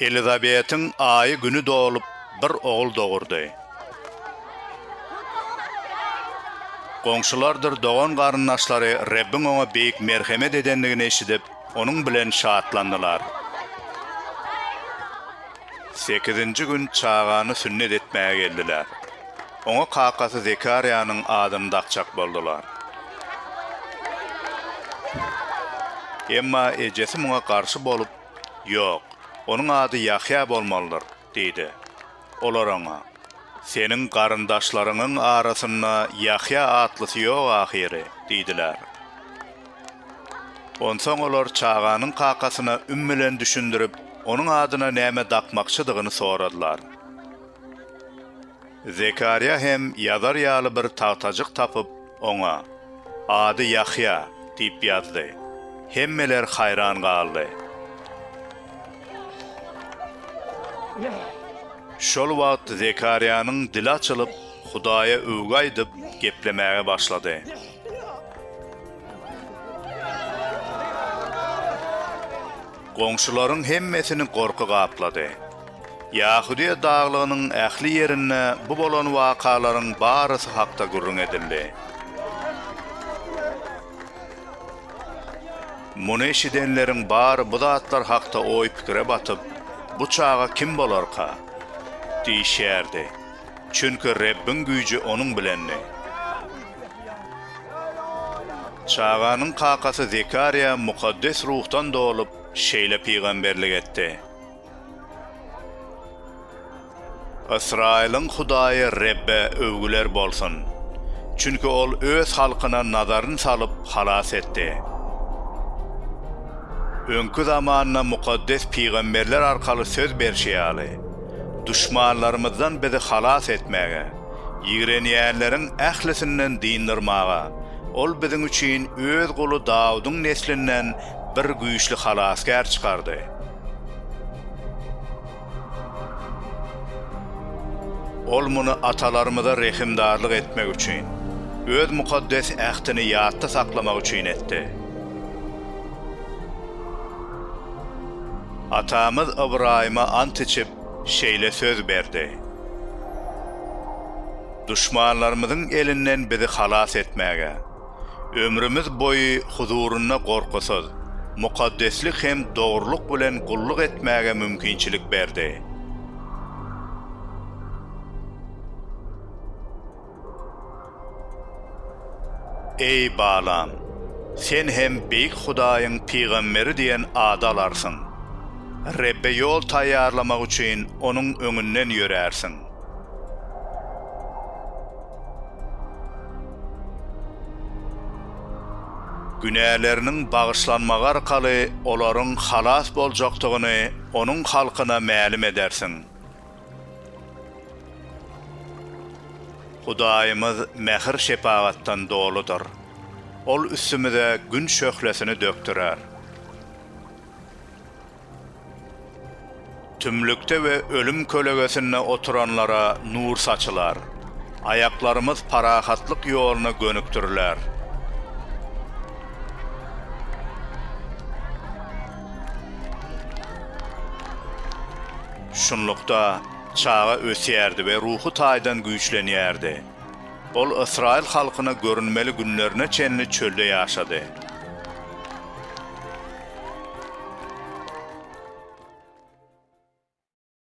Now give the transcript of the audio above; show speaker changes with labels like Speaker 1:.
Speaker 1: Elizabetiň aýy güni dolup, bir ogul dogurdy. Goňşulardyr dogan-garyndaşlary Rebbiň oňa beýik merhemet edendigini eşidip, onuň bilen şatlandylar. Sekizinji gün çagany sünnet etmäge geldiler. Oňa kakasy Zekarýanyň adyny dakjak boldular. Emma ejesi muňa garşy bolup, Ýok, onuň ady Ýahýa bolmalydyr diýdi. Olar oňa, Seniň garyndaşlaryňyň arasynda Ýahýa atlysy ýok ahyry diýdiler. Onsoň olar çaganyň kakasyna üm bilen düşündirip, onuň adyna näme dakmakçydygyny soradylar. Zekarýa hem ýazar ýaly bir tagtajyk tapyp, oňa, Ady Ýahýa diýip ýazdy. Hemmeler haýran galdy. Şol wagt Zekarýanyň dili açylyp, Hudaýa öwgi aýdyp, geplemäge başlady. Goňşularyň hemmesini gorky gaplady. Ýahudyýa daglygynyň ähli ýerinde bu bolan wakalaryň barysy hakda gürrüň edildi. Muny eşidenleriň bary bu zatlar hakda oý-pikire batyp, Bu çaga kim bolarka? diýişýärdi. Çünki Rebbiň güýji onuň bilendi. Çaganyň kakasy Zekarýa mukaddes ruhdan dolup, şeýle pygamberlik etdi, Ysraýylyň Hudaýy Rebbe öwgüler bolsun! Çünki Ol Öz halkyna nazaryny salyp, halas etdi. Öňki zamanda mukaddes pygamberler arkaly söz berşi ýaly, duşmanlarymyzdan bizi halas etmäge, ýigrenýänleriň ählisinden dyndermaga, Ol biziň üçin Öz guly Dawudyň neslinden bir güýçli halasgär çykardy. Ol muny atalarymyza rehimdarlyk etmek üçin, Öz mukaddes ähtini ýatda saklamak üçin etdi. Atamyz Ybraýyma ant içip, şeýle söz berdi, Duşmanlarymyzyň elinden bizi halas etmäge, ömrümiz boýy huzurynda gorkusyz, mukaddeslik hem dogrulyk bilen gulluk etmäge mümkinçilik berdi. Eý, balam, sen hem Beýik Hudaýyň pygamberi diýen ady alarsyň. Rebbe ýol taýýarlamak üçin Onuň öňünden ýörärsiň. Günäleriniň bagyşlanmagy arkaly olaryň halas boljakdygyny Onuň halkyna mälim edersiň. Hudaýymyz mähir-şepagatdan doludyr. Ol üstümize Gün şöhlesini dökdürer. Tümlükde we ölüm kölegesinde oturanlara nur saçylar. Aýaklarymyz parahatlyk ýoluna gönükdiriler. Şunlukda, çaga ösýärdi we ruhy taýdan güýçlenýärdi. Ol ysraýyl halkyna görünmeli günlerine çenli çölde ýaşady.